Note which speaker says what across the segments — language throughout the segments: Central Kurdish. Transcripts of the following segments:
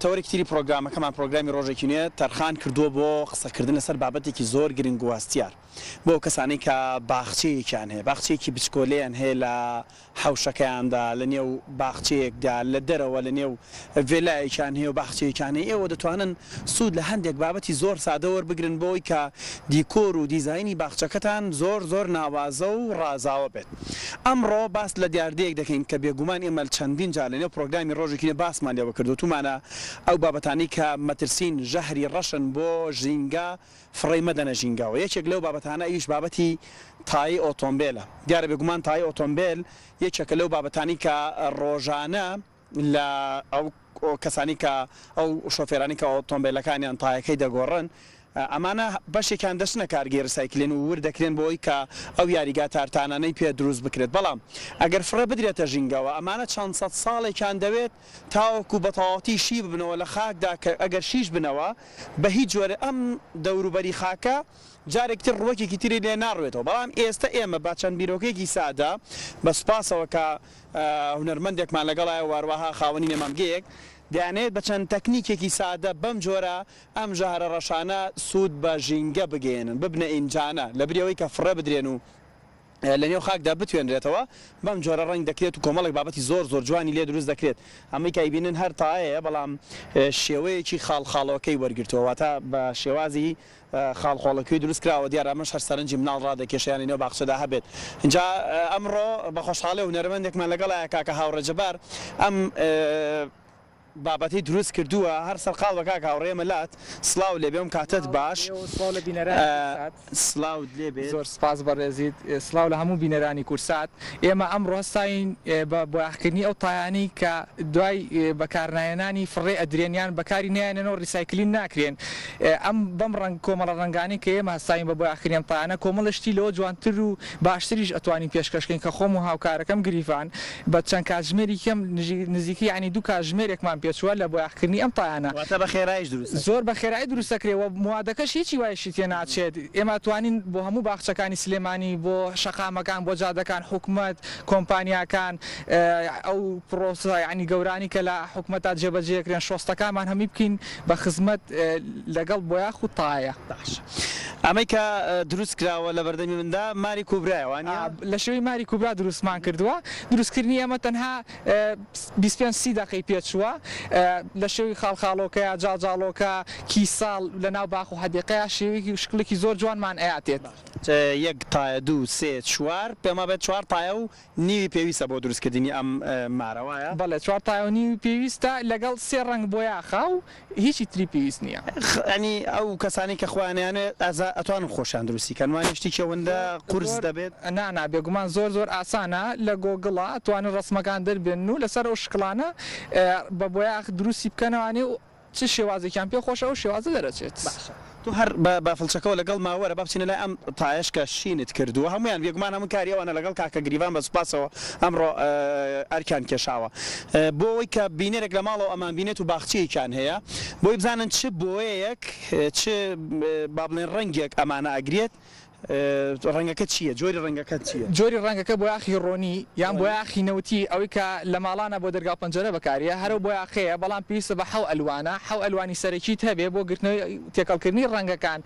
Speaker 1: تەوەرێکی تری پرۆگرامەکەمان پرۆگرامی ڕۆژێکی نوێ تەرخان کردووە بۆ قسەکردن لەسەر بابەتێکی زۆر گرنگ و هەستیار بۆ ئەو کەسانەی کە باخچەیەکیان هەیە باخچەیەکی بچکۆلەیان هەیە لە حەوشەکەیاندا لە نێو باخچەیەکدا لە دەرەوە لە نێو ڤێلایەکیان هەیە و باخچەیەکیان هەیە ئێوە دەتوانن سوود لە هەندێک بابەتی زۆر سادە وەربگرن بۆ ئەوەی کە دیکۆر و دیزاینی باخچەکەتان زۆر زۆر ناوازە و ڕازاوە بێت. ئەمڕۆ باس لە دیاردەیەک دەکەین کە بێگومان ئێمە چەندین جار لەنێو پرۆگرامی ڕۆژێکی نوێ باسمان لێوە کرد وتومانە ئەو بابەتانەی کە مەترسین ژەهری ڕەشن بۆ ژینگە فڕێی مەدەنە ژینگەوە یەکێک لەو بابەتانە ئەویش بابەتی تایەی ئۆتۆمبێلە دیارە بێگومان تایەی ئۆتۆمبێل یەکێکە لەو بابەتانەی کە ڕۆژانە لە ئەو کەسانی کە ئەو شۆفێرانی کە ئۆتۆمبێلەکانیان تایەکەی دەگۆڕن ئەمانە بەشێکیان دەچنە کارگەی ڕیسایکلین و ورد دەکرێن بۆ ئەوی کە ئەو یاریگا تارتانانەی پێ دروست بکرێت بەڵام ئەگەر فڕێ بدرێتە ژینگەوە ئەمانە چەند سەد ساڵێکیان دەوێت تاوەکو بە تەواوەتی شی ببنەوە لە خاکدا کە ئەگەر شیش بنەوە بە هیچ جۆرێ ئەم دەوروبەری خاکە جارێکی تر ڕووەکێکی تری لێ ناڕوێتەوە بەڵام ئێستە ئێمە بە چەند بیرۆکەیەکی سادە بە سوپاسەوە کە هونەرمەندێکمان لەگەڵایە واروەها خاوەنی نەمامگەیەک دەیانەوێت بە چەند تەکنیکێکی سادە بەم جۆرە ئەم ژەهرە ڕەشانە سوود بە ژینگە بگەیەنن ببنە ئینجانە لەبری ئەوەی کە فڕێ بدرێن و لە نێو خاکدا بتوێنرێتەوە بەم جۆرە ڕەنگ دەکرێت و کۆمەڵێک بابەتی زۆر زۆر جوانی لێ دروست دەکرێت ئەمەی کە ئەیبینن هەر تایەیە بەڵام شێوەیەکی خاڵ خاڵۆکەی وەرگرتووە واتە بە شێوازی خاڵ خۆڵە کوێی دروست کراوە دیارە ئەمەش هەر سەرنجی مناڵ ڕادەکێشێ یانی نێو باخچەدا هەبێت ئینجا ئەمڕۆ بە خۆشحاڵی هونەرمەندێکمان لەگەڵایە کاکە هاوڕێ جەبار ئەم بابەتەی دروست کردووە هەر سەرقاڵ بە کاک هاوڕێ ئێمە لات سڵاو لێ بێم کاتت باش سڵاو لە بینەرانی کورسات سڵاوت لێ بێت زۆر سپاس بەڕێزیت
Speaker 2: سڵاو لە هەموو بینەرانی کورسات. ئێمە ئەمڕۆ هەستاوین بە بۆیاخکردنی ئەو تایانەی کە دوای بەکارناهێنانی فڕێ ئەدرێن یان بەکاری نایەنێن و ڕیسایکلین ناکرێن ئەم بەم ڕەنگ کۆمەڵە ڕەنگانەی کە ئێمە هەستاوین بە بۆیاخکردنی ئەم تایانە کۆمەڵە شتی لەوە جوانتر و باشتریش ئەتوانین پێشکەش کەین کە خۆم و هاوکارەکەم گریڤان بە چەند کاتژمێری کەم نزیکەی یانی دوو کاتژمێرێکمان پێچووە لە بۆیاخکردنی ئەم تایانە. واتە بە خێراییش دروست ئەکرێت.
Speaker 1: زۆر بە خێرایی دروست
Speaker 2: ئەکرێت و موادەکەش هیچی وایشی تێ ناچێت. ئێمە ئەتوانین بۆ هەموو باخچەکانی سلێمانی، بۆ شەقامەکان، بۆ جادەکان، حکومەت، کۆمپانیاکان، ئەو پڕۆسە یانی گەورانی کە لە حکومەتا جێبەجێ ئەکرێن، شۆستەکانمان هەمی بکەین بە خزمەت لەگەڵ بۆیا خوتایە. باشە ئەمەی
Speaker 1: کە دروست کراوە لە بەردەمی مندا ماری کوبرایە وانیە؟ لە شێوەی ماری
Speaker 2: کوبرا دروستمان کردووە، دروستکردنی ئێمە تەنها بیست پێنج سی دەقەی پێچووە لە شێوەی خاڵخاڵۆکەیا جاڵجاڵۆکە کی ساڵ لە ناو باخ و حەدیقەیا شێوەیەکی و شکڵێکی زۆر جوانمان ئەیاتێت. یەک
Speaker 1: تایە دوو سێ چوار پێما بێت چوار تایە و نیوی پێویستە بۆ دروستکردنی ئەم مارە وایە؟ بەڵێ چوار تایە و
Speaker 2: نیوی پێویستە لەگەڵ سێ ڕەنگ بۆیاخا و هیچی تری پێویست نیە. یانی ئەو
Speaker 1: کەسانەی کە خۆیان ئەیانوێت ئازا ئەتوانن خۆشیان دروستی کەن وانیە شتیکی ئەوەندە قورس دەبێت؟ نا نا بێگومان
Speaker 2: زۆر زۆر ئاسانە لە گۆگڵا ئەتوانن ڕەسمەکان دەربێنن و لەسەر ئەو شکڵانە بە بۆیاخ دروستی بکەنەوە یانی چ شێوازێکیان پێ خۆشە ئەو شێوازە دەرەچێت. باشە تۆ هەر بە
Speaker 1: بافڵچەکەوە لەگەڵ ما وەرە با بچینە لای ئەم تایەش کە شینت کردووە هەموویان بێگومان هەموو کاری ئەوانە لەگەڵ کاکە گریڤان بە سوپاسەوە ئەمڕۆ ئەرکیان کێشاوە بۆ ئەوەی کە بینەرێک لە ماڵەوە ئەمان بینێت و باخچەیەکیان هەیە بۆی بزانن چ بۆیەیەک چ با بڵێن ڕەنگێک ئەمانە ئەگرێت ڕەنگەکە چییە؟ جۆری ڕەنگەکە چییە؟ جۆری ڕەنگەکە بۆیاخی
Speaker 2: ڕۆنی یان بۆیاخی نەوتی ئەوەی کە لە ماڵانە بۆ دەرگا و پەنجەرە بەکاریە هەرەو بۆیاخەیە بەڵام پێویستە بە حەو ئەلوانە حەو ئەلوانی سەرەکیت هەبێ بۆ گرتنەوەی تێکەڵکردنی ڕەنگەکان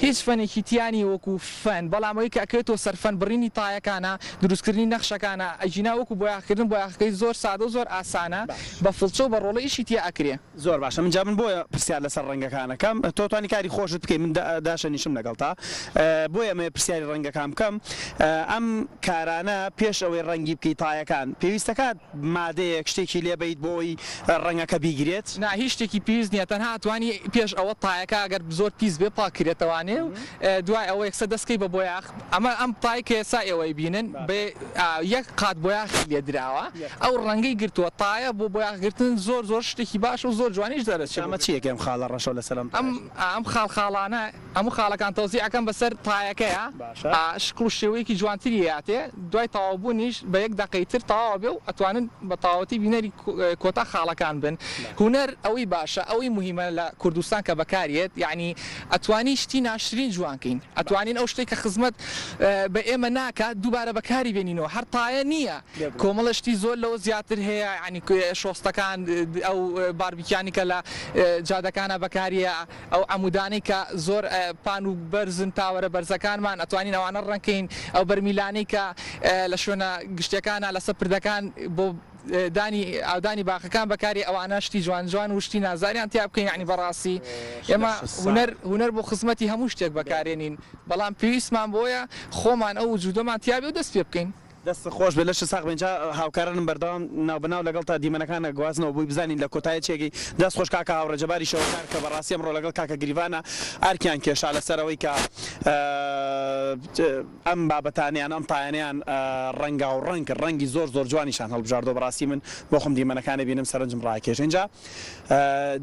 Speaker 2: هیچ فەنێکی تیا نیە وەکو فەن بەڵام ئەوەی کە ئەکرێتەوە سەر فەن بڕینی تایەکانە دروستکردنی نەخشەکانە ئەگینا وەکو بۆیاخکردن بۆیاخەکەی زۆر سادە و زۆر ئاسانە بە فڵچە و بە ڕۆڵە ئیشی تیا ئەکرێ. زۆر باشە من جا من
Speaker 1: بۆیە پرسیار لەسەر ڕەنگەکان ئەکەم تۆ توانی کاری خۆشت بکەی من داشەنیشم لەگەڵتا بۆیە ئەمەوێ پرسیاری ڕەنگەکان بکەم ئەم کارانە پێش ئەوەی ڕەنگی بکەی تایەکان پێویست دەکات مادەیەک شتێکی لێ بەیت بۆ ئەوی ڕەنگەکە بیگرێت؟ نا هیچ شتێکی پێویست
Speaker 2: نییە تەنها ئەتوانی پێش ئەوە تایەکە ئەگەر زۆر پیس بێ پاک کریتەوانێ و دوای ئەوە یەکسەر دەست کەی بە بۆیاخ ئەمە ئەم تای کە ئێستا ئێوە ئەیبینن بە یەک قات بۆیاخی لێ دراوە ئەو ڕەنگەی گرتووە تایە بۆ بۆیاخ گرتن زۆر زۆر شتێکی باشە و زۆر جوانیش دەرەچێ. ئەمە چییە کە ئەم خاڵە ڕەشە لەسەر
Speaker 1: ئەم تایە
Speaker 2: چییە؟
Speaker 1: ئەم ئەم
Speaker 2: خاڵ
Speaker 1: خاڵانە هەموو
Speaker 2: خاڵەکان
Speaker 1: تەوزیع
Speaker 2: ئەکەم بەسەر تایەکەیا باشە. شکڵ و شێوەیەکی جوانتری ئەیاتێ دوای تەواو بوونیش بە یەک دەقەی تر تەواو ئەبێ و ئەتوانن بە تەواوەتی بینەری کۆتا خاڵەکان بن هونەر ئەوەی باشە ئەوەی موهیمە لە کوردستان کە بەکار یەت یانی ئەتوانین شتی ناشرین جوان کەین ئەتوانین ئەو شتەی کە خزمەت بە ئێمە ناکات دووبارە بەکاری بێنینەوە هەر تایە نییە کۆمەڵە شتی زۆر لەوە زیاتر هەیە یانی شۆستەکان ئەو باربیکیانی کە لە جادەکانە بەکاریە ئەو عەمودانەی کە زۆر پان و بەرزن تاوەرە بەرزەکانمان ئەتوانین ئەوانە ڕەنگ کەین ئەو بەرمیلانەی کە لە شوێنە گشتەکانە لەسەر پردەکان بۆ دانی ئاودانی باخەکان بەکاری ئەوانە شتی جوان جوان و شتی نازداریان تیا بکەین یانی بەڕاستی ئێمە هونەر هونەر بۆ خزمەتی هەموو شتێک بەکارێنین بەڵام پێویستمان بۆیە خۆمان ئەو وجودەمان تیابێ و دەست پێ بکەین. دەستت خۆش بێت لەشت
Speaker 1: ساغ بێت جا هاوکارانم بەردەوام ناو بە ناو لەگەڵ تا دیمەنەکان ئەگوازنەوە بۆی بزانین لە کۆتایی چی ئەگەی دەست خۆش کاکە هاوڕێ جەباری شەوەکار کە بەڕاستی ئەمڕۆ لەگەڵ کاکە گریڤانە ئەرکیان کێشا لەسەر ئەوەی کە ئەم بابەتان یان ئەم پایانەیان ڕەنگاو ڕەنگ کرد ڕەنگی زۆر زۆر جوانیشان هەڵبژاردوە بەڕاستی من بۆخۆم دیمەنەکان ئەبینم سەرنجم ڕاکێش ئینجا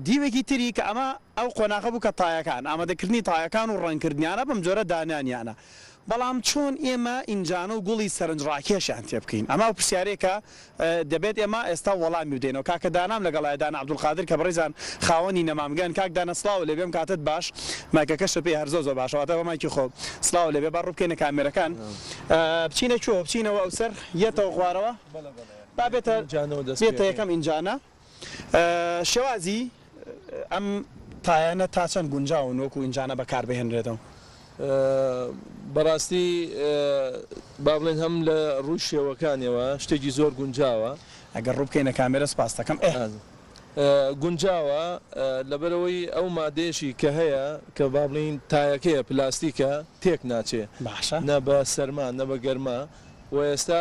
Speaker 1: دیوێکی تری کە ئەمە ئەو قۆناغە بوو کە تایەکان ئامادەکردنی تایەکان و ڕەنگکردنیانە بەم جۆرە دانانیانە بەڵام چۆن ئێمە ئینجانە و گوڵی سەرنج ڕاکێشیان تێبکەین ئەمە پرسیارێکە دەبێت ئێمە ئێستا وەڵامی بدەینەوە کاکە دانام لەگەڵایە دانا عبدالقادر کە بەڕێزان خاوەنی نەمامگەن کاک دانا سڵاوو لێبێ ئەم کاتەت باش مایکەکەش لەپێ هەر زۆر زۆر باشە واتە بە مایکی خۆم سڵاوو لێبێ با ڕووبکەینە کامێرەکان بچینە کوێوە بچینەوە ئەو سەر یەتەوە خوارەوە با بێتە بێتە یەکەم ئینجانە. شێوازی ئەم تایانە تا چەند گونجاون وەکو ئینجانە بەکار بهێنرێتەوە؟ بەڕاستی
Speaker 3: با بڵێین هەم لە ڕووی شێوەکانیەوە شتێکی زۆر گونجاوە. ئەگەر ڕوو بکەینە
Speaker 1: کامێرە سپاستەکەم ئێ.
Speaker 3: گونجاوە لەبەرئەوەی ئەو مادەیەشی کە هەیە کە با بڵێین تایەکەیە پلاستیکە تێک ناچێ. باشە. نە بە
Speaker 1: سەرما
Speaker 3: نە بە گەرما. و ئێستا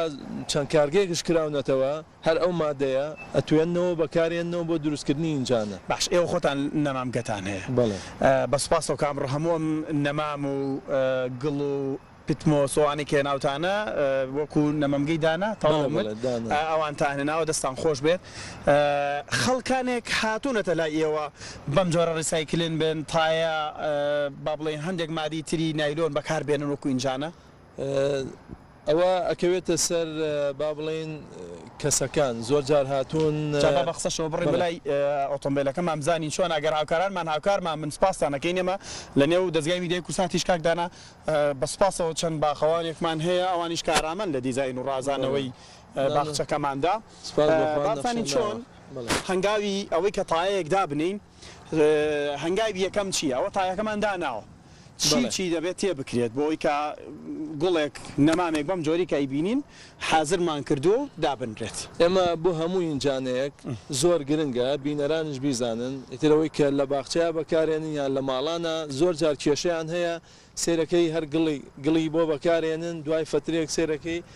Speaker 3: چەند کارگەیەکش کراونەتەوە هەر ئەو مادەیە ئەتوێننەوەو بەکارێننەوە بۆ دروستکردنی ئینجانە. باش ئێوە خۆتان
Speaker 1: نەمام گەتان هەیە؟ بەڵێ. بە
Speaker 3: سوپاسەوە کام
Speaker 1: ڕ هەموو ئەم نەمام و گڵ و پتم و سۆانەی کە هێناوتانە وەکو نەمەمگەی دانا تەواو مت ئەوانتان هێناوە دەستان خۆش بێت خەڵکانێک هاتوونەتە لای ئێوە بەم جۆرە ڕیسایکلن بن تایە با بڵێین هەندێک مادەی تری نایلۆن بەکار بێنن وەکو ئینجانە؟
Speaker 3: ئەوە ئەکەوێتە سەر با بڵێین کەسەکان زۆر جار هاتوون. جا با بە قسەشەوە بڕیم
Speaker 1: بەلای ئۆتۆمبێلەکە مام زانین چۆنە ئەگەر هاوکارانمان هاوکارمان بن سپاستان ئەکەین ئێمە لە نێو دەزگای میدیای کوردستان تیش کاک دانا بە سپاسەوە چەند باخەوانێکمان هەیە ئەوانیش کارامەن لە دیزاین و ڕازانەوەی باخچەکەماندا با بزانین چۆن هەنگاوی ئەوەی کە تایەیەک دابنێین هەنگاوی یەکەم چیە ئەوە تایەکەمان داناوە. چی چی دەبێت تێبکرێت بۆ ئەوەی کە گوڵێک نەمامێک بەم جۆری کە ئەیبینین حازرمان کردووە و دابنرێت. ئێمە بۆ هەموو
Speaker 3: ئینجانەیەک زۆر گرنگە بینەرانیش بیزانن ئیتر ئەوەی کە لە باخچەیا بەکارێنن یان لە ماڵانا زۆر جار کێشەیان هەیە سەیرەکەی هەر گڵی گڵی بۆ بەکارێنن دوای فەترەیەک سەیرەکەی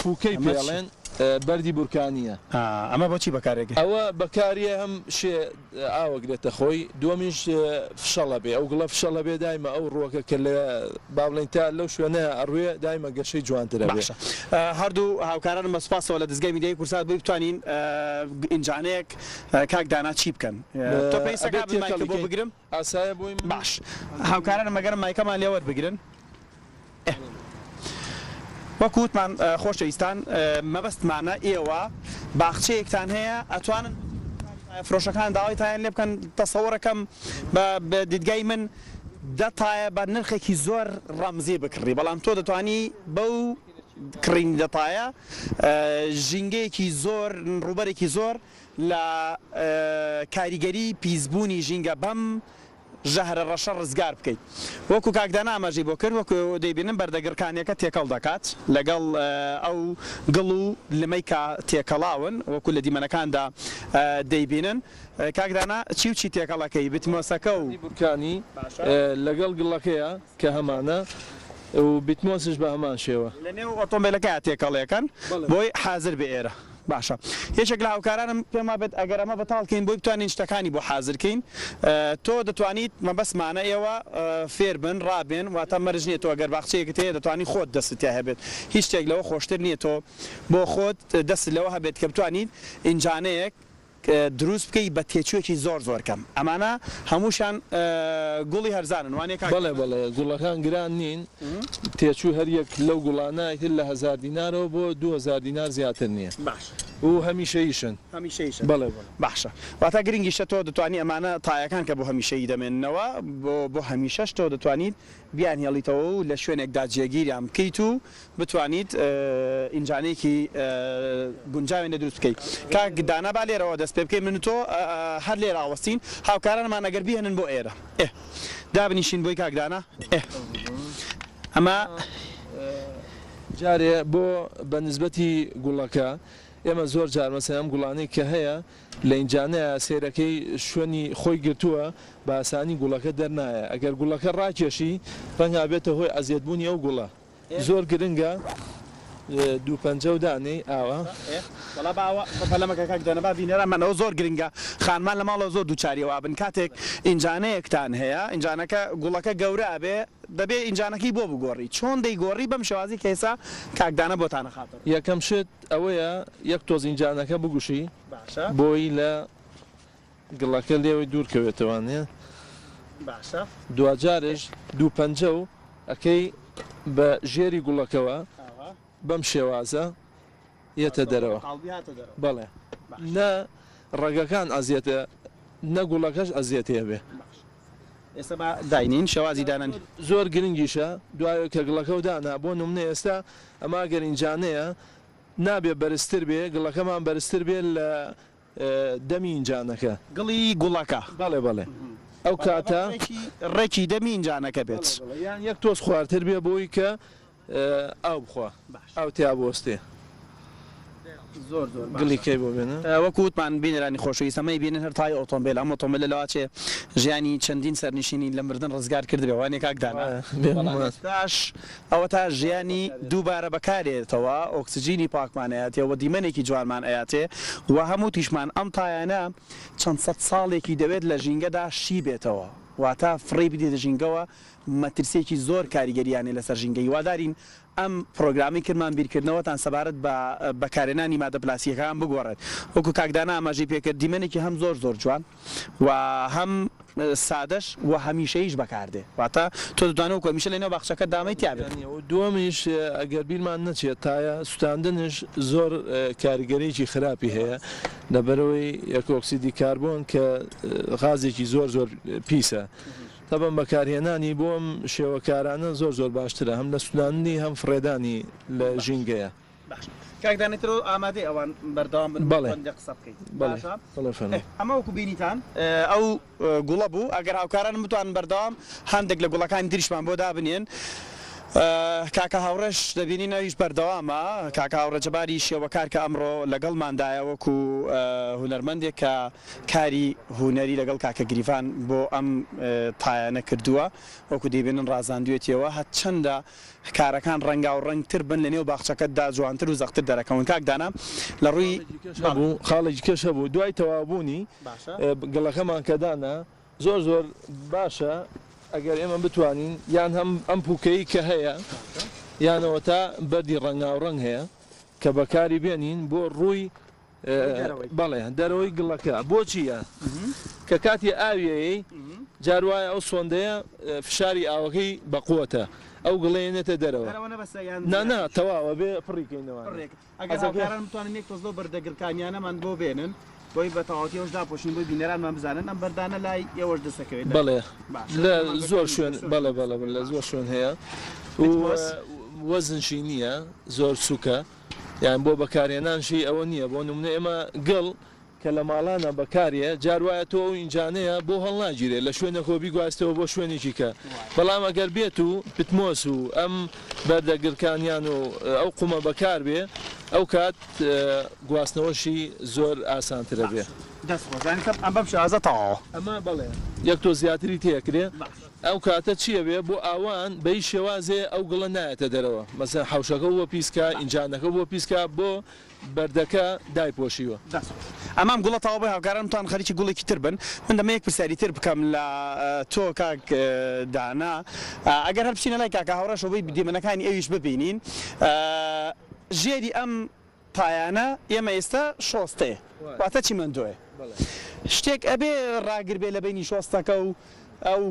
Speaker 3: پووکەی ئەمە چی؟ پێڵێن بەردی بورکانییە. ئا ئەمە بۆ چی بەکار
Speaker 1: ئەگرێ؟ ئەوە بەکاریە
Speaker 3: هەم شێ ئاوە گرێتە خۆی دووەمیش فشەڵە بێ ئەو گڵە فشەڵە بێ دایمە ئەو ڕووەکە کە لە با بڵێین تا لەو شوێنەیا ئەڕوێ دایمە گەشەی جوانتر ئەبێ. باشە هەردوو
Speaker 1: هاوکارانم بە سوپاسەوە لە دەزگای میدیایی کورسات بۆی بتوانین ئینجانەیەک کاک دانا چی بکەن تۆ پێویستە ئەبێ کابل مایکت بۆ تێکەڵی کەین. بگرم؟ باش هاوکارانم مەگەرم مایکەمان لێ وەربگرن ئه وەک وتمان خۆشەویستان مەبەستمانە ئێوە باخچەیەکتان هەیە ئەتوانن تایە فرۆشەکان داوای تایان لێ بکەن تەسەوەرەکەم بە بە دیدگای من دە تایە بە نرخێکی زۆر ڕەمزی بکڕی بەڵام تۆ دەتوانی بەو کڕینی دە تایە ژینگەیەکی زۆر ڕووبەرێکی زۆر لە کاریگەری پیسبوونی ژینگە بەم ژەهرە ڕەشە ڕزگار بکەین وەکو کاک دانا ئاماژەی بۆ کرد وەکو دەیبینن بەردە گڕکانیەکە تێکەڵ دەکات لەگەڵ ئەو گڵ و لمەی کە تێکەڵاون وەکو لە دیمەنەکاندا دەیبینن کاک دانا چی و چی تێکەڵ ئەکەی بتمۆسەکە
Speaker 3: و
Speaker 1: گڕکانی
Speaker 3: لەگەڵ
Speaker 1: گڵەکەیا
Speaker 3: کە
Speaker 1: هەمانە
Speaker 3: و بتمۆسش بە هەمان شێوە. لە نێو ئۆتۆمبێلەکەیا
Speaker 1: تێکەڵ ئەکەن بۆی حازر بێ ئێرە. باشە یەکێک لە هاوکارانم پێم وابێت ئەگەر ئەمە بەتاڵ کەین بۆی بتوانین شتەکانی بۆ حازر کەین تۆ دەتوانیت مەبەستمانە ئێوە فێر بن ڕابێن واتە مەرج نییە تۆ گەر باخچەیەکت هەیە دەتوانی خۆت دەستت تیا هەبێت هیچ شتێک لەوە خۆشتر نییە تۆ بۆ خۆت دەستت لەوە هەبێت کە بتوانیت ئینجانەیەک دروست بکەی بە تێچوێکی زۆر زۆر کەم ئەمانە هەمووشان گوڵی هەرزانن وانیە کاک بەڵێ بەڵێ گوڵەکان
Speaker 3: گران نین تێچووی هەر یەک لەو گوڵانە ئیتر لە هەزار دینارەوە بۆ دوو هەزار دینار زیاتر نیە باشە و هەمیشەییشن هەمیشەییشن بەڵێ بەڵێ باشە
Speaker 1: واتە گرنگیشە تۆ دەتوانی ئەمانە تایەکان کە بۆ هەمیشەیی دەمێننەوە بۆ بۆ هەمیشەش تۆ دەتوانیت بیانهێڵیتەوە و لە شوێنێکدا جێگیریان بکەیت و بتوانیت ئینجانێکی گونجاوێن لێ دروست بکەیت کاک دانا با لێرەوە دەست پێ بکەین من و تۆ هەر لێرە ئاوەستین هاوکارانمان ئەگەر بیهێنن بۆ ئێرە ئه دابنیشین بۆی کاک دانا ئه ئەمە
Speaker 3: جارێ بۆ بە نسبەتی گوڵەکە ئێمە زۆر جار مەسەلەن ئەم گوڵانەی کە هەیە لە ئینجا نەیا سێرەکەی شوێنی خۆی گرتووە بە ئاسانی گوڵەکە دەرنایە ئەگەر گوڵەکە ڕاکێشی ڕەنگە بێتە هۆی ئەزیەت بوونی ئەو گوڵە زۆر گرنگە دوو پەنجەو دانێی ئاوا. وەڵا با ئەوە
Speaker 1: پەلە مەکە کاک دانا با بینەرانمان ئەوە زۆر گرنگە خانمان لە ماڵەوە زۆر دووچاری ئەوە ئەبن کاتێک ئینجانەیەکتان هەیە ئینجانەکە گوڵەکە گەورە ئەبێ دەبێ ئینجانەکەی بۆ بگۆڕی چۆن دەیگۆڕی بەم شێوازەی کە ئێستا کاک دانا بۆتان ئەخاتە ڕوو. یەکەم شت
Speaker 3: ئەوەیە یەک تۆزین جانەکە بگوشی باشە بۆیی لە گڵەکە لێوەی دوور کەوێتەوە نیە باشە دواجارێش دوو پەنجە و ئەکەی بە ژێری گوڵەکەوە ئاوا بەم شێوازە یەتە دەرەوە قاڵبی هاتە دەرەوە بەڵێ باشە نە ڕەگەکان ئەزیەتە نە گوڵەکەش ئەزیەتێ بێ باشە ئێستا
Speaker 1: با داینێین شێوازی دانانی. زۆر گرنگیشە
Speaker 3: دوای کە گڵەکەو دانا بۆ نمونە ئێستا ئەمە ئەگەر ئینجانەیە نابێ بەرزتر بێ گڵەکەمان بەرزتر بێ لە دەمی ئینجانەکە. گڵی گوڵەکە.
Speaker 1: بەڵێ بەڵێ
Speaker 3: ئەو کاتە. ڕێکی
Speaker 1: دەمی ئینجانەکە بێت. یان یەک تۆز
Speaker 3: خوارتر بێ بۆی کە ئاو بخوا ئاو تیا بوەستێ
Speaker 1: زۆر زۆر گڵی کەی بۆ
Speaker 3: بێنە. وەکو وتمان بینەرانی
Speaker 1: خۆشەویست ئەمەی بینن هەر تای ئۆتۆمبێلە ئەم ئۆتۆمبێلە لەوە چێ ژیانی چەندین سەرنشینی لە مردن ڕزگار کردبێ وانیە کاک دانا؟ بەڵام ئێستاش ئەوەتا ژیانی دووبارە بەکارێتەوە ئۆکسجینی پاکمان ئەیاتێ و دیمەنێکی جوانمان ئەیاتێ و هەم وتیشمان ئەم تایانە چەند سەد ساڵێکی دەوێت لە ژینگەدا شی بێتەوە واتا فڕێی بدەیتە ژینگەوە مەترسیەکی زۆر کاریگەرییان هەیە لەسەر ژینگە هیوادارین ئەم پڕۆگرامەی کرمان بیرکردنەوەتان سەبارەت بە بەکارهێنانی مادە پلاستیکەکان بگۆڕێت وەکو کاک دانا ئاماژەی پێکرد دیمەنێکی هەم زۆر زۆر جوان و هەم سادەش و هەمیشەییش بەکاردێ واتە تۆ دەتوانی وەکو هەمیشە لەنێو باخچەکەت دامەی تیا بێت. دووەمیش
Speaker 3: ئەگەر بیرمان نەچێت تایە سوتاندنش زۆر کاریگەریی خراپی هەیە لەبەرئەوەی ئۆکسیدی کاربۆن کە غازێکی زۆر زۆر پیسە تەبەن بەکارهێنانی بۆ ئەم شێوە کارانە زۆر زۆر باشترە هەم لە سوتاندنی هەم فڕێدانی لە ژینگەیە. باش کاک دانێ
Speaker 1: ترۆ ئامادەی ئەوان بەردەوام بن بەڵێ بەندێ قسە بکەین بەڵێ باشە بەڵێ فەرموو. ئێ ئەمە وەکو بینیتان ئەو گوڵە بوو ئەگەر هاوکارانم بتوانن بەردەوام هەندێک لە گوڵەکانی تریشمان بۆ دابنێن کاکە هاوڕێش دەبینین ئەویش بەردەوامە کاکە هاوڕێ جەباری شێوەکار کە ئەمڕۆ لەگەڵماندایە وەکو هونەرمەندێک کە کاری هونەری لەگەڵ کاکە گریڤان بۆ ئەم تایانە کردووە وەکو دەیبینن ڕازاندوێتیەوە هەر چەندە کارەکان ڕەنگاو ڕەنگ تر بن لەنێو باخچەکەت دا جوانتر و زەقتر دەرەکەون کاک دانا لە ڕووی خاڵێکی
Speaker 3: کێش هەبوو دوای تەواو بوونی گڵەکەمان کە دانا زۆر زۆر باشە ئەگەر ئێمە بتوانین یان هەم ئەم پووکەی کە هەیە یانەوەتا بەردی ڕەنگاو ڕەنگ هەیە کە بەکاری بێنین بۆ ڕووی بەڵێ دەرەوەی گڵەکە بۆچیە کە کاتی ئاویەیەی جار وایە ئەو سۆندەیە فشاری ئاوەکەی بەقوەتە ئەو گڵێنێتە دەرەوە نانا تەواوە بێ پڕیکەینەوە ئەگەرتوانن یەک تۆزلۆ بەردە
Speaker 1: گرکانیانەمان بۆ بێنن بۆی بە تەواوەتیەوەش داپۆشین بۆی بینەرانمان بزانن ئەم بەردانە لای ئێوەش دەسەکەوێت بڵێ لە
Speaker 3: زۆر شوێن بەڵێ بەڵە لە زۆر شوێن هەیە وەزنشی نییە زۆر سوکە یان بۆ بەکارهێنان شێی ئەوە نییە بۆ نمونە ئێمە گڵ کە لە ماڵانا بەکارێ جار وایە تۆ ئەو ئینجانەیە بۆ هەڵناگیرێ لە شوێنە خۆ بیگواستەوە بۆ شوێنێکی کە بەڵام ئەگەر بێت و پتمۆس و ئەم بەردە گرکانیان و ئەو قومە بەکار بێ ئەو کات گواستنەوەشی زۆر ئاسانترە بێ دەست خۆش یانی کەم ئەم
Speaker 1: بەم شێوازە
Speaker 3: تەواوە
Speaker 1: ئەمە
Speaker 3: بەڵێ یەک
Speaker 1: تۆ
Speaker 3: زیاتری تێکرێ. ئەو کاتە چی ئەبێ بۆ ئاوان بە هیچ شێوازێ ئەو گڵە نایەتە دەرەوە مەسەلەن حەوشەکە بووە پیسکا ئینجانەکە بووە پیسکا بۆ بەردەکە دایپۆشیوە. دەست خۆش. ئەمام
Speaker 1: گوڵە تەواو بووی هاوکارانم تان خەریکی گوڵێکی تر بن من دەمەوێ یەک پرسیاری تر بکەم لە تۆ کاک دانا ئەگەر هەر بچینە لای کاکە هاوڕێ شۆبەی دیمەنەکانی ئەویش ببینین ژێری ئەم پایانە ئێمە ئیستا شۆستەێ واتە چیمەندۆێ شتێک ئەبێ ڕاگر بێ لە بەینی شۆستەکە و ئەو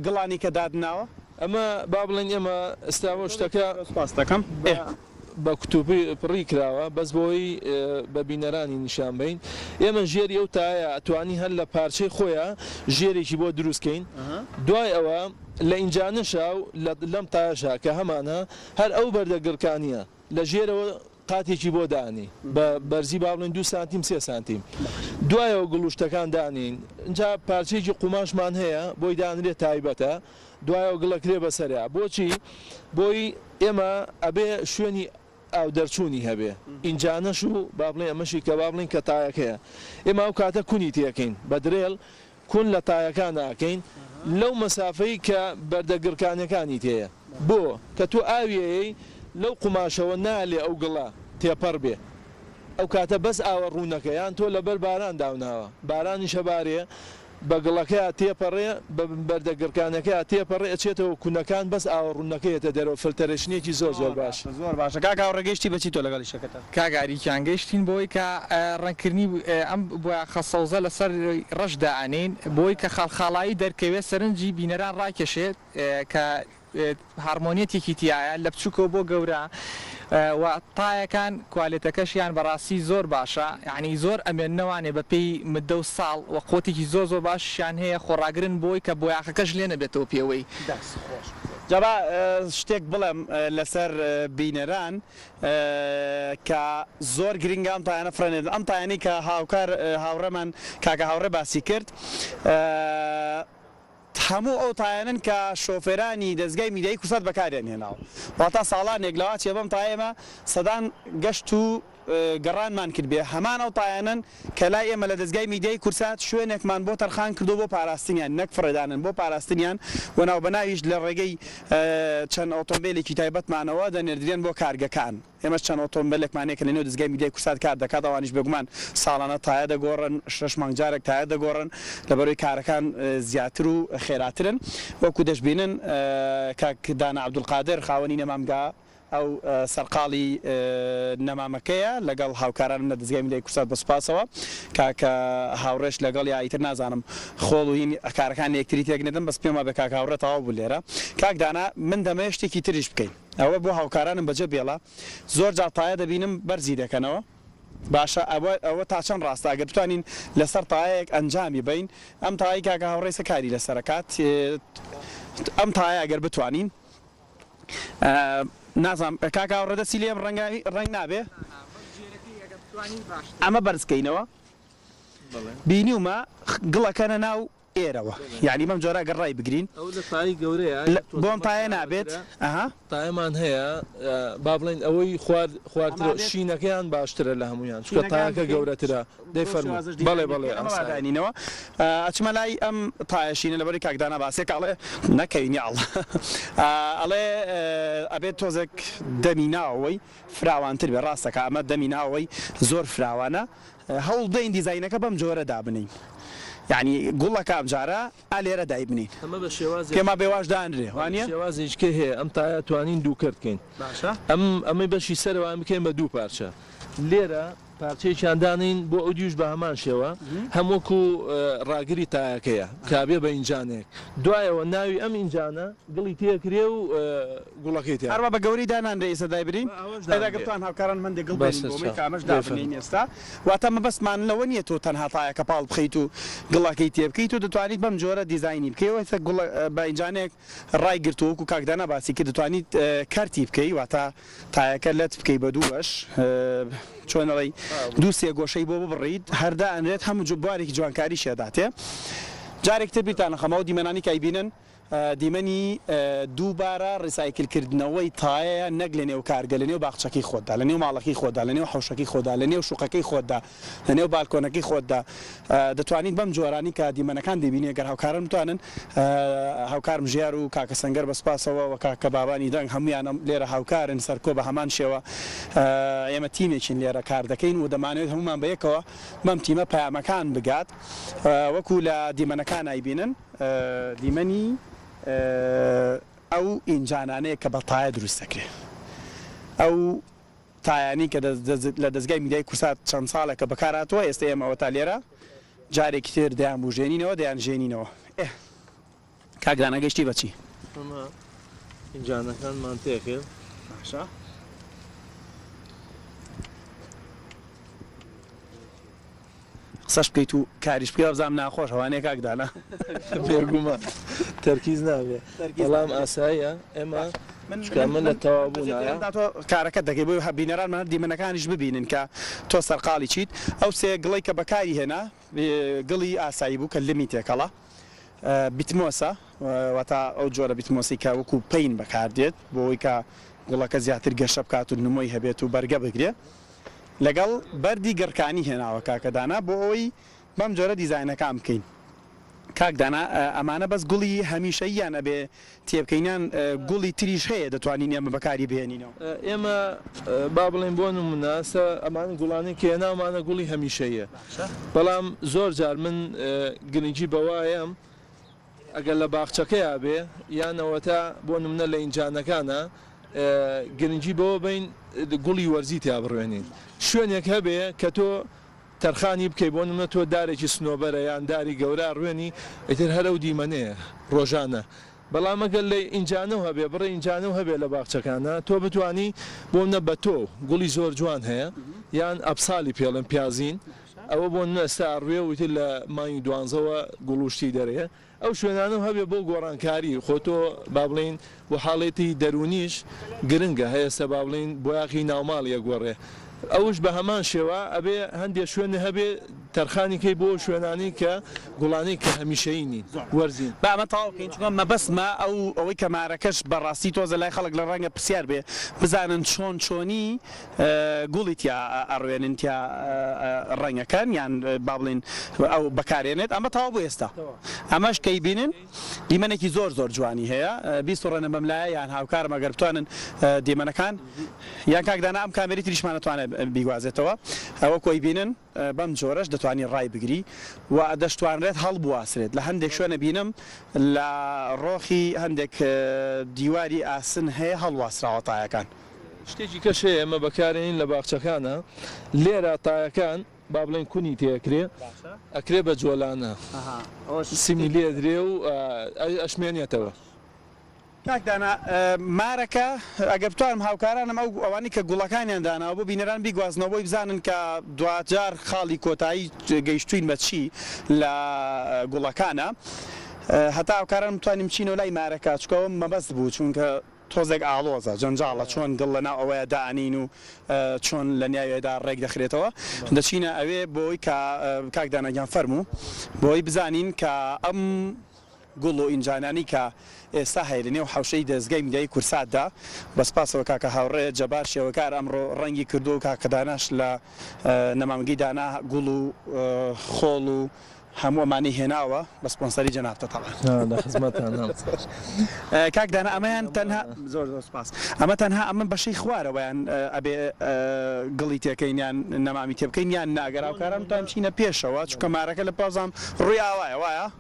Speaker 1: گڵانی کە دادناوە. ئەمە با
Speaker 3: بڵێن ئێمە ئیستا وە شتەکە
Speaker 1: بە
Speaker 3: کوتوپی پڕی کراوە بەس بۆی بە بینەرانی نیشان بەین ئێمە ژێری ئەو تایە ئەتوانی هەر لە پارچەی خۆیا ژێرێکی بۆ دروست کەین دوای ئەوە لە ئینجانشا و لەم تایشا کە هەمانە هەر ئەو بەردە گڕکانیە لە ژێرەوە قاتێکی بۆ دانێی بە بەرزی با بڵێن دوو سانتیم سێ سانتیم دوایەوە گڵوشتەکان دانێین جا پارچەیەکی قوماشمان هەیە بۆی دانرێت تایبەتە دوایەوە گڵەکرێ بەسەریا بۆچی بۆی ئێمە ئەبێ شوێنی ئاو دەرچوونی هەبێ ئینجانەش و با بڵێ ئەمەشی کە با بڵین کە تایەکەیە ئێمە ئەو کاتە کونی تێکەین بە درێل کون لە تایەکان ئەکەین لەو مەسافەی کە بەردە گڕکانیەکانی تێیە بۆ کە تۆ ئاوی ئەیەی لەو قوماشەوە نالێ ئەو گڵە تێپەڕ بێ ئەو کاتە بەس ئاوە ڕوونەکە یان تۆ لەبەر باران داوناوە بارانیش ئەبارێ بە گڵەکەیا تێپەڕێ بە بەردە گڕکانەکەیا تێپەڕێ ئەچێتەوە کونەکان بەس ئاوە ڕوونەکە یەتە دەرەوە فلتەرێشنێکی زۆر زۆر باش. زۆر باشە کاک هاوڕێ
Speaker 1: گەیشتی بەچی تۆ لەگەڵی شەکەتە؟ کاک ئاری گیان گەیشتین
Speaker 2: بەوەی کە ڕەنگکردنی ئەم بۆیاخە سەوزە لەسەر ڕەش دائەنێین بۆی کە خاڵخاڵایی دەرکەوێت سەرنجی بینەران ڕاکێشێت کە هارمۆنیەتێکی تیایە لە بچوکەوە بۆ گەورە و تایەکان کوالێتەکەشیان بەڕاستی زۆر باشە یانی زۆر ئەمێننە وانێ بە پێی مدە و ساڵ وە قوتێکی زۆر زۆر باشیشیان هەیە خۆڕاگرن بۆی کە بۆیاخەکەش لێ نەبێتەوە پێوەی. جا
Speaker 1: با شتێک بڵێم لەسەر بینەران. کە زۆر گرنگە ئەم پایانە فرەنێدن ئەم پایانەی کە هاوکار هاوڕێمان کاکە هاوڕێ باسی کرد هەموو ئەو تایەنن کە شۆفێرانی دەستگای میدیایی کوردستان بەکاریان هێناوە واتا ساڵانێک لەواچێ بەم تایەمە سەدان گەشت و گەڕانمان کرد بێ هەمان ئەو تایەنن کە لای ئێمە لە دەزگای میدیای کورسات شوێنێکمان بۆ تەرخان کردووە بۆ پاراستنیان نەک فڕێدانن بۆ پاراستنیان و ناوبەناویش لە ڕێگەی چەند ئۆتۆمبێلێکی تایبەتمانەوە دەنێردرێن بۆ کارگەکان ئێمەش چەند ئۆتۆمبێلێکمان هەیە کە لەنێو دەزگای میدیای کورسات کار دەکات ئەوانیش بێگومان ساڵانە تایە دەگۆڕن شەش مانگ جارێک تایە دەگۆڕن لەبەرەوەی کارەکان زیاتر و خێراترن وەکو دەشبینن کاک دانا عەبدولقادر خاوەنی نەمامگا ئەو سەرقاڵی نەمامەکەیە لەگەڵ هاوکارانم لە دەزگای میدیای کوردسات بە سوپاسەوە کاکە هاوڕێش لەگەڵیا ئیتر نازانم خۆڵ و هین کارەکانی یەکتری تێک نەدەن بەس پێم وابێ کاکە هاوڕێ تەواو بوو لێرە کاک دانا من دەمەوێ شتێکی تریش بکەین ئەوە بۆ هاوکارانم بەجێ بێڵە زۆر جار تایە دەبینم بەرزی دەکەنەوە باشە ئەوە ئەوە تا چەند ڕاستە ئەگەر بتوانین لەسەر تایەیەک ئەنجامی بەین ئەم تایەی کاکە هاوڕێ سە کاری لەسەر کات ئەم تایە ئەگەر بتوانین. نازانم کاک ئاوڕ دەستی لێم ڕەنگە ڕەنگ نابێ ئەمە بەرز کەینەوە بینیومە گڵەکەنە ناو ئێرەوە یعنی بەم جۆرە گەڕ ڕای بگرین بۆم پایە نابێت پایمان
Speaker 3: هەیە با بڵین ئەوەی خوارد خوارد شینەکەیان باشترە لە هەمویان چکە تاکە گەورەترە دەیفەرموو بەڵێ بەڵێ ئەمە وا داینینەوە
Speaker 1: ئەچمە لای ئەم تایەشینە لەبەر کاک دانا باسێک ئەڵێ نەکەوین یاڵڵا ئەڵێ ئەبێت تۆزێک دەمی ناوەوەی فراوانتر بێ ڕاستەکە ئەمە دەمی ناوەوەی زۆر فراوانە هەوڵ دەین دیزاینەکە بەم جۆرە دابنین یعنی گوڵەکە ئەمجارە ئا لێرە دایبنین ئەمە بە شێواز پێما بێواش دانرێ وانە شێوازێکێ هەیە ئەم
Speaker 3: تایا توانین دوو کردکەین باشە ئەم ئەمەی بەشی سەروان بکەین بە دوو پارچە لێرە پارچەیەکیان دانێین بۆ ئەودیوش بە هەمان شێوە هەم وەکو ڕاگری تایەکەیە بکرابێ بە ئینجانێک دوایەوە ناوی ئەم ئینجانە گڵی تێ کرێ و گوڵەکەی تیا هەروا بە گەورەی دانانرێ ئیسە
Speaker 1: دایبرین ئەدا گەر توان هاوکاران مەندێ گڵ بێنین بۆمەی کە ئەمەش دابنێین ئێستا واتە مەبەست مان لەوە نیە تۆ تەنها تایەکە پاڵ بخەیت و گڵەکەی تێ بکەی تۆ دەتوانیت بەم جۆرە دیزاینی بکەی و ئیسە گوڵە بە ئینجانێک ڕای گرتوە وەکو کاک دانا باسی کرد دەتوانیت کەرتی بکەی واتە تایەکە لەت بکەی بە دوو بەش چۆن ئەڵێی دوو سێ گۆشەی بۆ ببڕیت هەر دائەنرێت هەموو جۆ بوارێکی جوانکاری شێ داتێ جارێک تر بیرتان ئەخەم ئەو دیمەنانی کە ئەیبینن دیمەنی دووبارە ڕیسایکل کردنەوەی تایەیە نەک لەنێو کارگە لەنێو باخچەکەی خۆتدا لەنێو ماڵەکەی خۆتدا لەنێو حەوشەکەی خۆتدا لەنێو شوقەکەی خۆتدا لەنێو بالکۆنەکەی خۆتدا دەتوانیت بەم جۆرانی کە دیمەنەکان دەیبینی گەر هاوکارن بتوانن هاوکارم ژیار و کاکە سەنگەر بە سوپاسەوە وە کاکە بابانی دەنگ هەموویانە لێرە هاوکارن سەرکۆ بە هەمان شێوە ئێمە تیمێکین لێرە کار دەکەین و دەمانەوێت هەموومان بە یەکەوە بەم تیمە پەیامەکان بگات وەکو لە دیمەنەکان ئایبینن دیمەنی ئەو ئینجانانەیە کە بە تایە دروست دەکرێت ئەو تایانی کە لە دەزگای میدیای کورسات چەند ساڵێکە بەکار هاتووە ئێستە ئێمە ئەوەتا لێرە جارێکی تر دەیان بوژێنینەوە دەیان ژێنینەوە ئێ کاک دانا گەشتی بە چی؟ ئەمە ئینجانەکانمان
Speaker 3: تێکرد باشە
Speaker 1: قسەش بکەیت و کاریش بکەی وابزانم ناخۆش ئەوانەیە کاک دانا بێگومان
Speaker 3: تەرکیز نابێ بەڵام ئاساییە ئێمە چکە من لە تەوابوونایە تۆ کارەکەت دەکەی
Speaker 1: بۆی هە بینەرانمان هەر دیمەنەکانیش ببینن کە تۆ سەرقاڵی چیت ئەو سێ گڵەی کە بەکاری هێنا گڵی ئاسایی بوو کە لمی تێکەڵە بیتمۆسە وەتا ئەو جۆرە بیتمۆسی کە وەکو پین بەکاردێت بۆی کە گوڵەکە زیاتر گەشە بکات و نمۆی هەبێت و بەرگە بگرێت لەگەڵ بەردی گڕکانی هێناوە کاکە دانا بۆ ئەوەی بەم جۆرە دیزاینەکان بکەین کاک دانا ئەمانە بەس گوڵی هەمیشەییان ئەبێ تێبکەین یان گوڵی تریش هەیە دەتوانین ئێمە بەکاری بهێنینەوە؟ ئێمە
Speaker 3: با بڵێین بۆ نمونە سە ئەمان گوڵانەی کە هێناومانە گوڵی هەمیشەییە بەڵام زۆر جار من گرنگی بەوایەم ئەگەر لە باخچەکەیا بێ یان ئەوەتا بۆ نمونە لە ئینجانەکانا گرنگی بەوە بەین گوڵی وەرزی تیا بڕوێنین شوێنێک هەبێ کە تۆ تەرخانی بکەی بۆ نمونە تۆ دارێکی سنۆبەرە یان داری گەورە ئەڕوێنی ئیتر هەر ئەو دیمەنەیە ڕۆژانە بەڵام ئەگەر لە ئینجانەو هەبێ بڕێ ئینجانەو هەبێ لە باخچەکانا تۆ بتوانی بۆ منە بەتۆو گوڵی زۆر جوان هەیە یان ئەپسالی پێڵێن پیازین ئەوە بۆ نمونە ئێستا ئەڕوێ و ئیتر لە مانگی دوانزەوە گوڵ و شتی دەرێ ئەو شوێنانەو هەبێ بۆ گۆڕانکاری خۆ تۆ با بڵێین بۆ حاڵێتی دەرونیش گرنگە هەی ئێستا با بڵێین بۆیاخی ناوماڵی ئەگۆڕێ ئەوش بە هەمان شێوە ئەبێ هەندێ شوێنێ هەبێ تەرخانی کەی بۆ شوێنانەی کە گوڵانەی کە هەمیشەیی نین وەرزین. با ئەمە تەواو کەین چونکە
Speaker 1: مەبەستمە ئەو ئەوەی کە مارەکەش بە ڕاستی تۆزە لای خەڵک لە ڕەنگە پرسیار بێ بزانن چۆن چۆنی. گوڵی تیا ئەڕوێنن تیا ڕەنگەکەن یان بابڵێن ئەو بەکارێنێت ئەمە تەواو بۆ ئێستا ئەمەش کەی بینن دیمەنێکی زۆر زۆر جوانی هەیە بیسوڕێنە بەم لایە یان هاوکارم ئەگەر بتوانن دیمەنەکان یان کاک دانا ئەم کامێری تریشمان ئەتوانێت بیگوازێتەوە ئەوە کۆی بینن. بەم جۆرەش دەتوانی ڕایبگری و دەشتوانرێت هەڵبواسرێت، لە هەندێک شوێن ئەبینم لە ڕۆخی هەندێک دیواری ئاسن هەیە هەڵواسراوە تایەکان. شتێکی کەش
Speaker 3: هەیە ئێمە بەکارێنین لە باخچەکانا لێرا تایەکان با بڵێین کونی تێ ئەکرێ ئەکرێ بە جۆلانە سیمی لێ ئەدرێ و ئەشمێنێتەوە.
Speaker 1: کاک دانا مارەکە ئەگەر بتوانم هاوکارانم ئەو ئەوانەی کە گوڵەکانیان داناوە بۆ بینەران بیگوازنەوە بۆی بزانن کە دواجار خاڵی کۆتایی گەیشتووین بە چی لە گوڵەکانا هەتا هاوکارانم بتوانین بچینەوە لای مارەکە چونکە ئەوە مەبەست بوو چونکە تۆزێک ئاڵۆزە جەنجاڵە چۆن گڵ لەناو ئەوەیە دانین و چۆن لە نیاوێدا ڕێک دەخرێتەوە دەچینە ئەوێ بۆی کە کاک دانا گیان فەرموو بۆی بزانین کە ئەم گوڵ و ئینجانانی کە ئێستا هەیە لە نێو حەوشەی دەزگای میدیایی کورساتدا بە سپاسەوە کاکە هاوڕێ جەبار شێوەکار ئەمڕۆ ڕەنگی کردووە و کاکە داناش لە نەمامگەی دانا گوڵ و خۆڵ و هەموو ئەمانەی هێناوە بە سپۆنسەری جەنابتە تەبعەن. لە خزمەتتانام. کاک دانا ئەمەیان تەنها. زۆر زۆر سپاس. ئەمە تەنها ئەمە بەشەی خوارەوەیان ئەبێ گڵی تێکەین یان نەمامی تێبکەین یان نا گەر هاوکاران بتوانن بچینە پێشەوە چونکە مارەکە لە پازام ڕووی ئاوایە وایە؟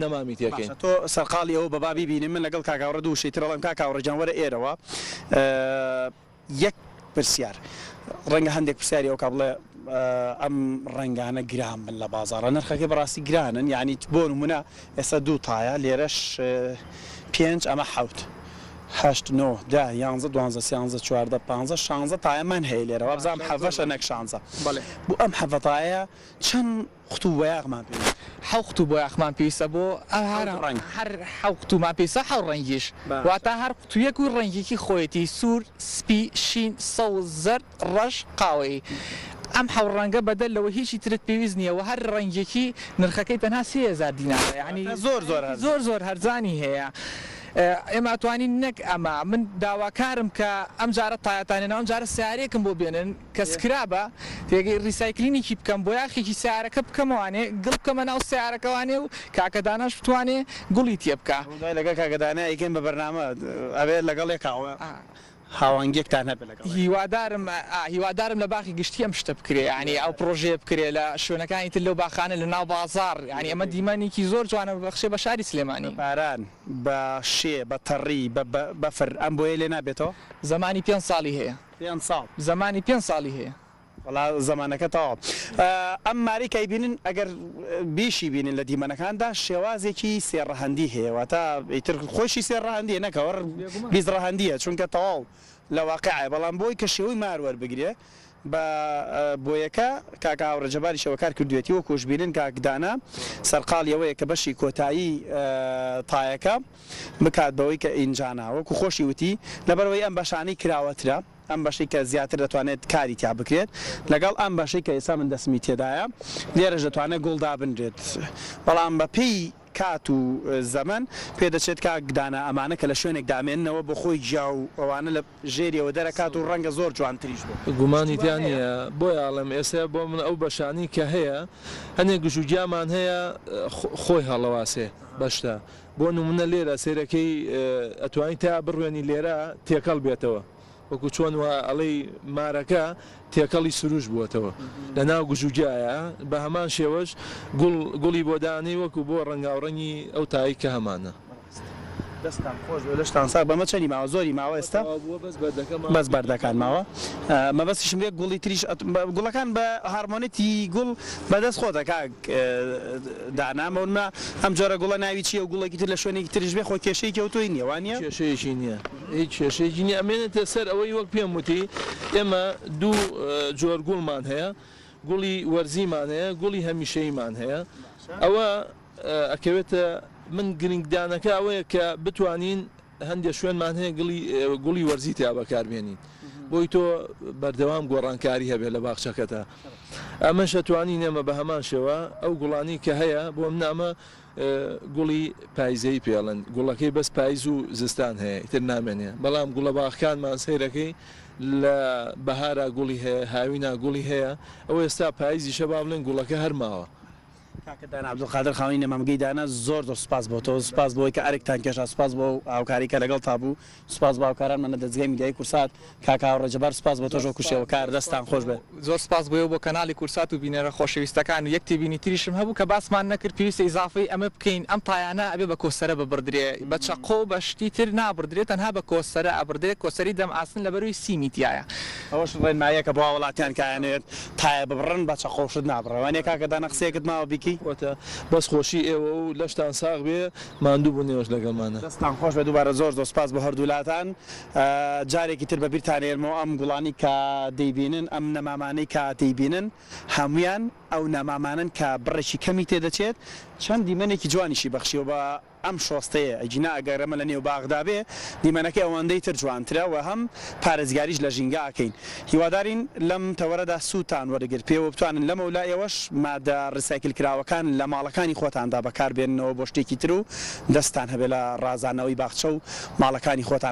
Speaker 3: نەمامی تێ کەین. باشە تۆ سەرقاڵی ئەوە
Speaker 1: بەبا بیبینم من لەگەڵ کاک هاوڕێ دوو شەی تر ئەڵێم کاک هاوڕێ گیان وەرە ئێرەوە یەک پرسیار ڕەنگە هەندێک پرسیاری ئەوکا بڵێ ئەم ڕەنگانە گران بن لە بازاڕە نرخەکەی بەڕاستی گرانن یانی بۆ نموونە ئێستا دوو تایە لێرەش پێنج ئەمە حەوت هەشت نۆ دە یانزە دوانزە سیانزە چواردە پانزە شانزە تایەمان هەیە لێرە وابزانم حەڤەشە نەک شانزە بەڵێ بۆ ئەم حەڤە تایە چەند قوتوو بۆیاخمان پێویستە. حەو قوتوو بۆیاخمان
Speaker 2: پێویستە بۆ هەر ڕەنگ. هەر حەو قوتوومان پێویستە حەو ڕەنگیش. واتە هەر قوتوویەک و ڕەنگێکی خۆیەتی، سوور، سپی، شین، سەوز، زەرد، ڕەش، قاوەیی. ئەم حەو ڕەنگە بەدەر لەوە هیچی ترت پێویست نییە و هەر ڕەنگێکی نرخەکەی تەنها سێ هەزار دینارە یانی زۆر زۆر هەرزانی هەیە. ئێمە ئەتوانین نەک ئەمە من داواکارم کە ئەمجارە تایەتان هێناوە ئەمجارە سەیارەیەکم بۆ بێنن. کە سکرابە تێگەی ریسایکلینیکی بکەم بۆ یاخێکی سەیارەکە بکەمەوانێ گڵ بکەمە ناو سەیارەکەوانێ و کاکە داناش بتوانێ گوڵی تێ بکا. ئەمە دوای لەگەڵ کاکە دانای
Speaker 1: ئەیکەین بە بەرنامە ئەبێ لەگەڵ یەکا هاوانگیەکتان هەبێ لەگەڵ یەکا. هیوادارم
Speaker 2: هیوادارم لە باخی گشتی ئەم شتە بکرێ یانی ئەو پڕۆژەیە بکرێ لە شوێنەکانی تر لەو باخانە لە ناو بازاڕ یانی ئەمە دیمەنێکی زۆر جوانە ببەخشێ بە شاری سلێمانی. بە باران بە
Speaker 1: شێ بە تەڕی بە بەفر ئەم بۆیە لێ نابێتەوە؟ زمانی پێنج ساڵی
Speaker 2: هەیە. پێنج ساڵ. زمانی
Speaker 1: پێنج ساڵی
Speaker 2: هەیە. وەڵا زمانەکە
Speaker 1: تەواو. ئەم مارەی کایبینن ئەگەر بیشی بینن لە دیمەنەکاندا شێوازێکی سێ ڕەهەندی هەیە واتا ئیتر خۆیشی سێ ڕەهەندیە نەک ئەوە بیست ڕەهەندیە چونکە تەواو لە واقیعە بەڵام بۆی کە شێوەی مار وەربگرێ بە بۆیەکە کاکە هاوڕێ جەباریش ئەوە کار کردویەتی وەکوش بینن کاک دانا سەرقاڵی ئەوەیە کە بەشی کۆتایی تایەکە بکات بەوەی کە ئینجانا. وەکو خۆشی وتی لەبەرئەوەی ئەم بەشانەی کراوەترە، ئەم بەشەی کە زیاتر دەتوانێت کاری تیا بکرێت لەگەڵ ئەم بەشەی کە ئێستا من دەستمی تێدایە لێرەش دەتوانێت گوڵ دابنرێت بەڵام بەپێی کات و زەمەن پێدەچێت کاک دانا ئەمانە کە لە شوێنێک دامێننەوە بۆ خۆی گیا و ئەوانە لە ژێریەوە دەرەکات و ڕەنگە زۆر جوانتریش بێ. گومانی تیا نیە
Speaker 3: بۆیە ئەڵێم ئێسە بۆ من ئەو بەشانەی کە هەیە هەنێ گژوگیامان هەیە خۆی هەڵەواسێ بەشتە بۆ نمونە لێرە سێرەکەی ئەتوانی تا بڕوێنی لێرە تێکەڵ بێتەوە وەکو چۆن وا ئەڵێی مارەکە تێکەڵی سروش بووەتەوە لە ناو گژوگیایە بە هەمان شێوەش گوڵ گوڵی بۆ دانەی وەکو بۆ ڕەنگاوڕەنگی ئەو تای کە هەمانە. دەستتان خۆش
Speaker 1: بێ لەشتان ساغ بە مە چەنی ماوە زۆری ماوە ئێستا بەس بەردەکان ماوە مەبەستیشم بێ گوڵی تریش گوڵەکان بە هارمۆنیتی گوڵ بەدەست خۆتە کاک دانا مەونما ئەم جۆرە گوڵە ناوی چیە و گوڵێکی تر لە شوێنێکی تریش بێ خۆ کێشەی کە و تۆی نیە وانە کێشەیەکی نیە
Speaker 3: هیچ کێشەیەکی نیە ئەمێنێتە سەر ئەوەی وەک پێم وتی ئێمە دوو جۆر گوڵمان هەیە گوڵی وەرزیمان هەیە گوڵی هەمیشەیمان هەیە ئەوە ئەکەوێتە من گرنگدانەکە ئەوەیە کە بتوانین هەندێک شوێنمان هەیە گڵی گوڵی وەرزی تیا بەکاربێنین بۆی تۆ بەردەوام گۆڕانکاری هەبێت لە باخچەکەتە ئەمەشە توانی نێمە بە هەمان شێوە ئەو گوڵانی کە هەیە بۆم نامە گوڵی پایزەی پێڵن گوڵەکەی بەس پایز و زستان هەیە تر نامێنێ بەڵام گوڵە باخکانمان سەیرەکەی لە بەهارا گوڵی هەیە هاوینا گوڵی هەیە ئەو ئێستا پایزیشە با بڵێن گوڵەکە هەرماوە کاکە دانا
Speaker 1: عبدالقادر خاوەنی نەمامگەی دانا زۆر زۆر سوپاس بۆ تۆ سوپاس بۆی کە ئەرکتان کێشا سوپاس بۆ هاوکاری کە لەگەڵ تا بوو سوپاس بۆ هاوکارانمان لە دەزگای میدیایی کورسات کاکە هاوڕێ جەبار سوپاس بۆ تۆش وەکو شێوەکار دەستان خۆش بێت. زۆر سوپاس بۆی و بۆ
Speaker 2: کەناڵی کورسات و بینەرە خۆشەویستەکان و یەک تێبینی تریشم هەبوو کە باسمان نەکرد پێویستە ئیزافەی ئەمە بکەین ئەم تایانە ئەبێ بە کۆسەرە ببڕدرێ بە چەقۆ و بە شتی تر نابڕدرێ تەنها بە کۆسەرە ئەبڕدرێ کۆسەری دەم ئاسن لەبەروی سیمی تیایە. ئەوەش ڕێنماییەکە
Speaker 1: بۆ هاوڵاتیان کە ئەیانەوێت تایە ببڕن بە چەقۆو شت نابڕێ وانیە کاکە دانا قسەیەکت ماوە بیکەی. وەتا بەس خۆشی
Speaker 3: ئێوە و لەشتان ساغ بێ ماندوو بوون ئێوەش لەگەڵمانە. دەستتان خۆش بێت دووبارە
Speaker 1: زۆر زۆر سوپاس بۆ هەردوولاتان جارێکی تر بەبیرتان ئێرمەوە ئەم گوڵانەی کە دەیبینن ئەم نەمامانەی کە دەیبینن هەموویان ئەو نەمامانەن کە بڕێکی کەمی تێدەچێت چەند دیمەنێکی جوانیشی بەخشیوە بە ئەم شۆستەیە ئەگینا ئەگەر ئەمە لە نێو باغدا بێ دیمەنەکەی ئەوەندەی تر جوانترە و هەم پارێزگاریش لە ژینگە ئەکەین هیوادارین لەم تەوەرەدا سوودتان وەرگر پێ و بتوانن لەمە و لای ئەوەش مادە ڕیسایکل کراوەکان لە ماڵەکانی خۆتاندا بەکار بێننەوە بۆ شتێکی تر و دەستتان هەبێ لە ڕازاندنەوەی باخچە و ماڵەکانی خۆتان.